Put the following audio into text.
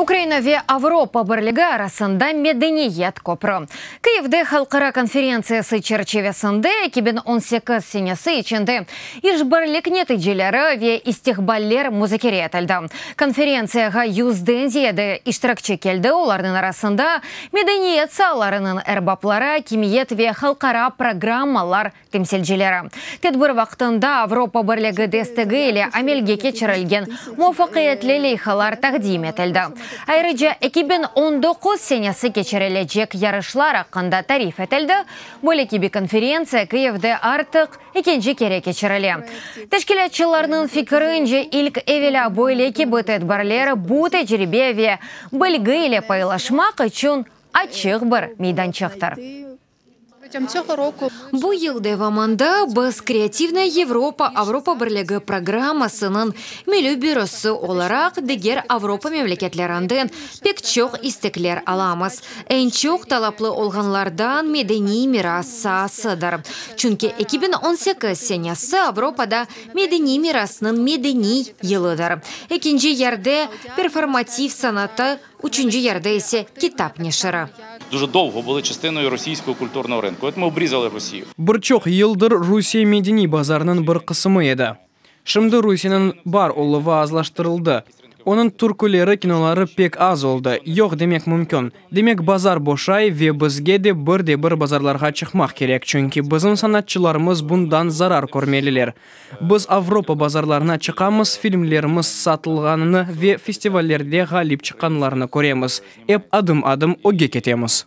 Ukraina ve Avropa Birligi arasında medeniyet köprü. Kyivde halqara konferentsiyası çerçivesinde eki biñ on sekiz senesi içinde işbirlik neticeleri ve istiqballer muzakere etildi. Konferentsiyağa yüzden ziyade iştirakçi keldi, olarnıñ arasında medeniyet saalarınıñ erbapları, akimiyet ve halqara programmalar temsilcileri, tedbir vaqtında Avropa Birligi destegi ile amelge keçirilgen muvafaqiyetli leyhalar taqdim etildi. Ayrıca, eki biñ on doquz senesi keçirilecek yarışlar aqqında tarif etildi. Böyle kibi konferentsiya Kyivde artıq ekinci kere keçirile. Teşkilâtçılarnıñ fikirince, ilk evelâ böyle kibi tedbirler bu tecribe ve bilgi ile paylaşmaq içün açıq bir meydançıqtır. Bu yıl devamında biz Kreativnaya Yevropa Avropa Birligi programmasınıñ milliy bürosı olaraq diger Avropa memleketlerinden pek çoq istekler alamız. Eñ çoq talaplı olğanlardan medeniy miras saasıdır. Çünki eki biñ on sekiz senesi Avropada medeniy mirasnıñ medeniy yılıdır. Ekinci yerde performativ sanatı, Üçünci yerde ise Kitap neşiri. Duja dolgo bılı çıstınoy rusiyskoy kulturnoy rınkı, ötme obrizalı Rusiyi. Bir çoq yıldır Rusiye medeniy bazarınıñ bir qısımı edi. Şimdi Rusiyeniñ bar oluvı azlaştırıldı. Onıñ türküleri, kinoları pek az oldı, yoq demek mümkün. Demek, bazar boşay ve bizge de bir de bir bazarlarğa çıqmaq kerek, çünki bizim sanatçılarımız bundan zarar körmeliler. Biz Avropa bazarlarına çıqamız, filmlerimiz satılğanını ve festivallerde ğalip çıqqanlarını köremiz. Ep adım-adım ögge ketemiz.